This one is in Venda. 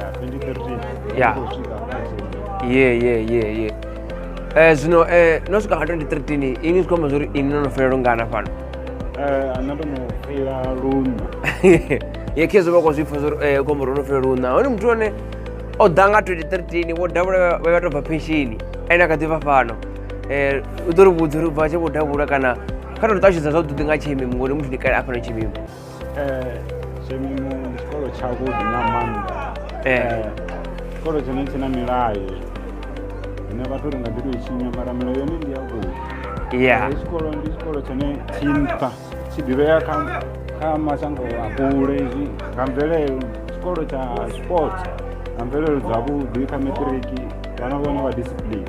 Yeah, 2013. Yeah. Kusvika kwanze. ye ye ye ye Eh, zwino eh, no swika nga 2013 ini zwi khou amba zwori ini no no fhelela lungana fhano Eh, ana ndo no fhela luṋa. ye khe zwo vha khou zwi pfa zwori eh, khombo ro no fhelela luna hone muthu one o ḓa nga 2013 vho davhula vha- vha vha tou bva penshini ene a kha ḓi vha fhano Eh, u ḓo ri vhudza uri bva tshe vho davhula kana kha tou ṱalutshedza zwavhuḓi nga tshimimo ngori muthu ndi kale a fhano tshimimo Shemimu ndi tshikolo tshavhuḓi nga maanḓa Eh, tshikolo tshone tshi na milayo ine vhathu ri nga ḓi tou i tshinya mara milayo yone ndi yavhuḓi yeah Ndi tshikolo ndi tshikolo tshone tshi nṱha tshi ḓivhea kha kha mashango a kule zwi nga mvelelo tshikolo tsha sports nga mvelelo dzavhuḓi kha matiriki vhana vhone vha discipline